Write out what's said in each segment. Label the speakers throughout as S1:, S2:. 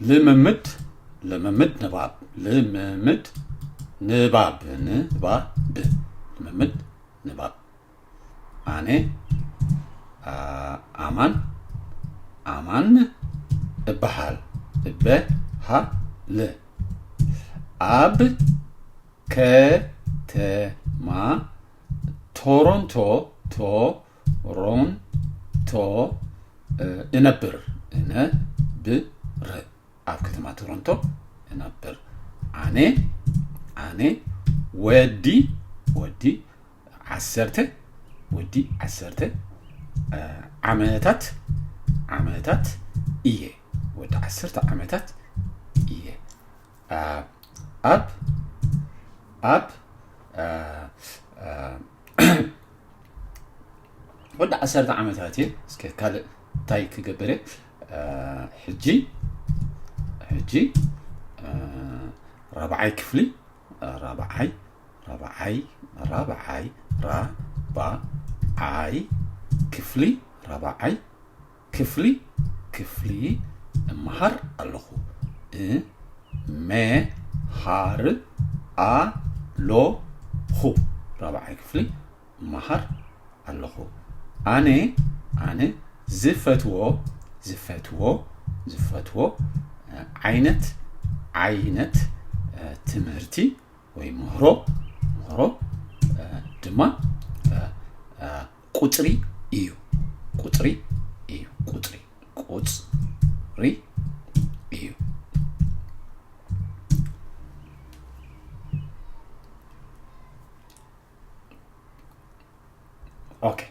S1: ልምምድ ልምምድ ንባብ ልምምድ ንባብ ንባብ ልምምድ ንባብ ኣነ ኣማን ኣማን እበሃል እበሃል ኣብ ከተማ ቶሮንቶ ቶ ሮን ቶ እነብር እነብር ኣብ ከተማ ቶሮንቶ እነብር ኣነ ኣነ ወዲ ወዲ ዓሰርተ ወዲ ዓሰርተ ዓመታት ዓመታት እየ ወዲ ዓሰርተ ዓመታት እየ ኣብ ኣብ ወዲ ዓሰርተ ዓመታት እየ እስከ ካልእ እንታይ ክገብር እየ ሕጂ ሕጂ ራብዓይ ክፍሊ ራብዓይ ራብዓይ ራብዓይ ራብዓይ ክፍሊ ራብዓይ ክፍሊ ክፍሊ እመሃር ኣለኹ እ መ ሃ ር ኣ ሎ ኹ ራብዓይ ክፍሊ እመሃር ኣለኹ ኣነ ኣነ ዝፈትዎ ዝፈትዎ ዝፈትዎ ዓይነት ዓይነት ትምህርቲ ወይ ምህሮ ምህሮ ድማ ቁፅሪ እዩ ቁፅሪ እዩ ቁፅሪ ቁፅሪ እዩ ኦኬ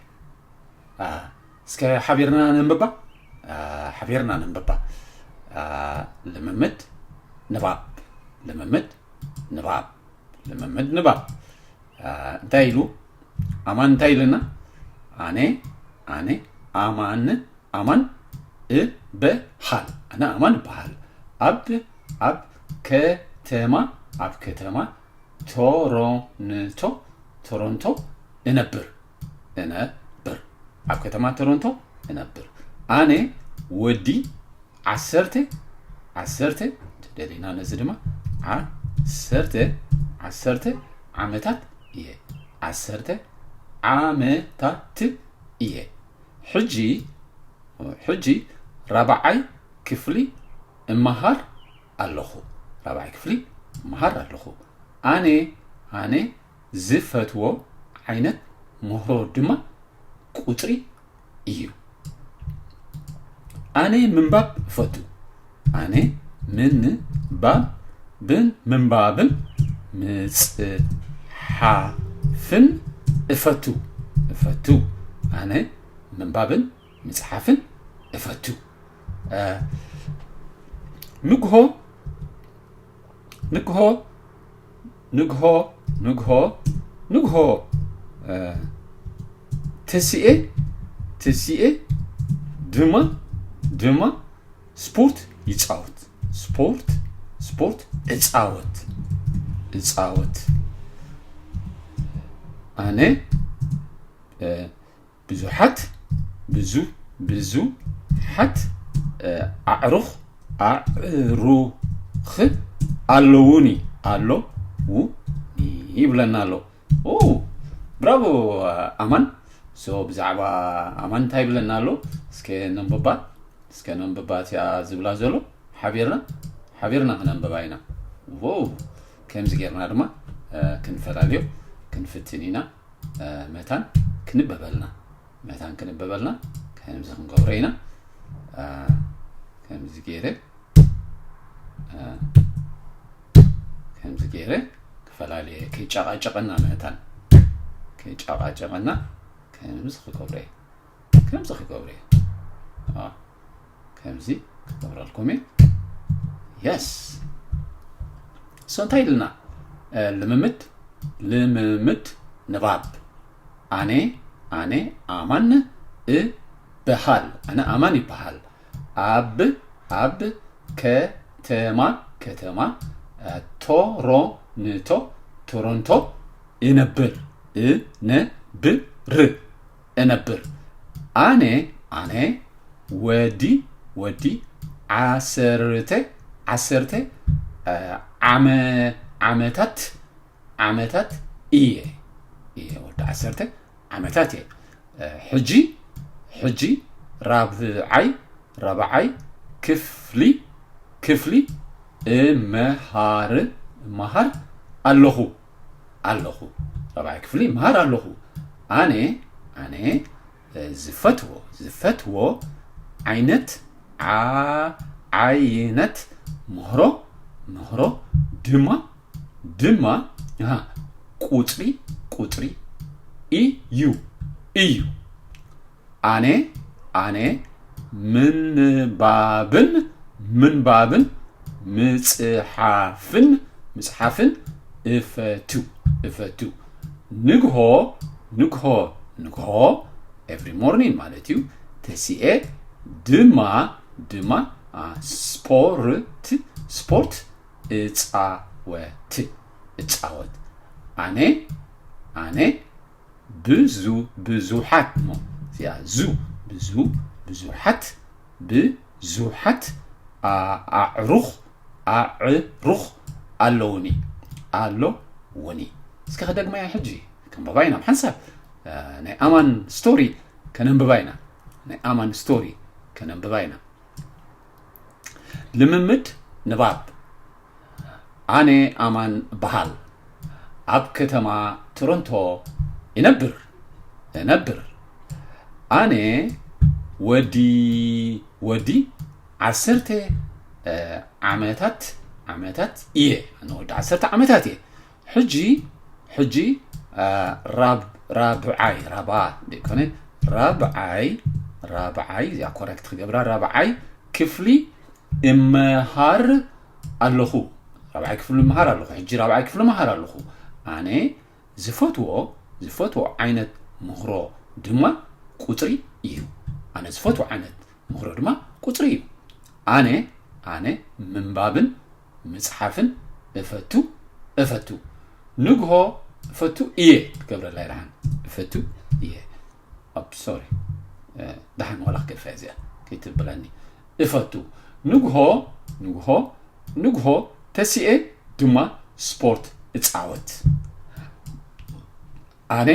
S1: እስከ ሓቢርና ነንብባ ሓቢርና ነንብባ ልምምድ ንባብ ልምምድ ንባብ ልምምድ ንባብ እንታይ ኢሉ ኣማን እንታይ ኢለና ኣነ ኣነ ኣማን ኣማን እበሃል ኣነ ኣማን እበሃል ኣብ ኣብ ከተማ ኣብ ከተማ ቶሮንቶ ቶሮንቶ እነብር እነብር ኣብ ከተማ ቶሮንቶ እነብር ኣነ ወዲ ዓሰርተ ዓሰርተ እንተደሊና ነዚ ድማ ዓሰርተ ዓሰርተ ዓመታት እየ ዓሰርተ ዓመታት እየ ሕጂ ሕጂ ራብዓይ ክፍሊ እመሃር ኣለኹ ራብዓይ ክፍሊ እመሃር ኣለኹ ኣነ ኣነ ዝፈትዎ ዓይነት ምህሮ ድማ ቁጽሪ እዩ። ኣነ ምንባብ እፈቱ። ኣነ ምንባብ ብን ምንባብን ምጽሓፍን እፈቱ እፈቱ ኣነ ምንባብን ምጽሓፍን እፈቱ ንግሆ ንግሆ ንግሆ ንግሆ ንግሆ ትስኤ ትስኤ ድማ ድማ ስፖርት ይፃወት ስፖርት ስፖርት እፃወት እፃወት ኣነ ብዙሓት ብዙ ብዙ ሓት ኣዕሩኽ ኣዕሩኽ ኣለዉኒ ኣሎ ው ይብለና ኣሎ ብራቮ ኣማን ሶ ብዛዕባ ኣማን እንታይ ይብለና ኣሎ እስከ ነንብባ እስከ ነንብባ እቲኣ ዝብላ ዘሎ ሓቢርና ሓቢርና ክነንብባ ኢና ከምዚ ጌርና ድማ ክንፈላለዮ ክንፍትን ኢና መታን ክንበበልና መታን ክንበበልና ከምዚ ክንገብሮ ኢና ከምዚ ገይረ ከምዚ ገይረ ክፈላለየ ከይጨቃጨቀና መታን ከይጨቃጨቀና ከምዚ ክገብረ ከምዚ ክገብሮ እየ ከምዚ ክገብረልኩም እየ የስ እሶ እንታይ ኢልና ልምምድ ልምምድ ንባብ ኣነ ኣነ ኣማን እበሃል ኣነ ኣማን ይበሃል ኣብ ኣብ ከተማ ከተማ ቶሮንቶ ቶሮንቶ እነብር እነብር እነብር ኣነ ኣነ ወዲ ወዲ ዓሰርተ ዓሰርተ ዓመ ዓመታት ዓመታት እየ እየ ወዲ ዓሰርተ ዓመታት እየ ሕጂ ሕጂ ራብዓይ ራብዓይ ክፍሊ ክፍሊ እመሃር እመሃር ኣለኹ ኣለኹ ራብዓይ ክፍሊ ይምሃር ኣለኹ ኣነ ኣነ ዝፈትዎ ዝፈትዎ ዓይነት ዓይነት ምህሮ ምህሮ ድማ ድማ ቁፅሪ ቁፅሪ እዩ እዩ ኣነ ኣነ ምንባብን ምንባብን ምጽሓፍን ምጽሓፍን እፈቱ እፈቱ ንግሆ ንግሆ ንግሆ ኤቭሪ ሞርኒን ማለት እዩ ተሲኤ ድማ ድማ ስፖርት ስፖርት እጻወት እጻወት ኣነ ኣነ ብዙ ብዙሓት እሞ እዚኣ ዙ ብዙ ብዙሓት ብዙሓት ኣዕሩኽ ኣዕሩኽ ኣለውኒ ኣለውኒ እስኪ ከደግመያ ሕጂ ክንብባ ኢና ሓንሳብ ናይ ኣማን ስቶሪ ከነንብባ ኢና ናይ ኣማን ስቶሪ ከነንብባ ኢና ልምምድ ንባብ ኣነ ኣማን እበሃል ኣብ ከተማ ቶሮንቶ ይነብር እነብር ኣነ ወዲ ወዲ ዓሰርተ ዓመታት ዓመታት እየ ኣነ ወዲ ዓሰርተ ዓመታት እየ ሕጂ ሕጂ ራብዓይ ራብዓ ደይኮነ ራብዓይ ራብዓይ እዚኣ ኮረክት ክገብራ ራብዓይ ክፍሊ እመሃር ኣለኹ ራብዓይ ክፍሊ እመሃር ኣለኹ ሕጂ ራብዓይ ክፍሊ እመሃር ኣለኹ ኣነ ዝፈትዎ ዝፈትዎ ዓይነት ምኽሮ ድማ ቁፅሪ እዩ ኣነ ዝፈትዎ ዓይነት ምኽሮ ድማ ቁፅሪ እዩ ኣነ ኣነ ምንባብን ምጽሓፍን እፈቱ እፈቱ ንግሆ እፈቱ እየ ትገብረላይ ደሓን እፈቱ እየ ሶሪ ደሓን ዋላ ክገድፋ እዚኣ ከይትብለኒ እፈቱ ንግሆ ንግሆ ንግሆ ተሲኤ ድማ ስፖርት እፃወት ኣነ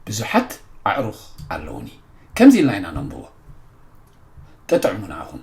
S1: ብዙሓት ኣዕሩኽ ኣለዉኒ ከምዚ ኢልና ኢና ነንብቦ ጥጥዕሙ ንዓኹም።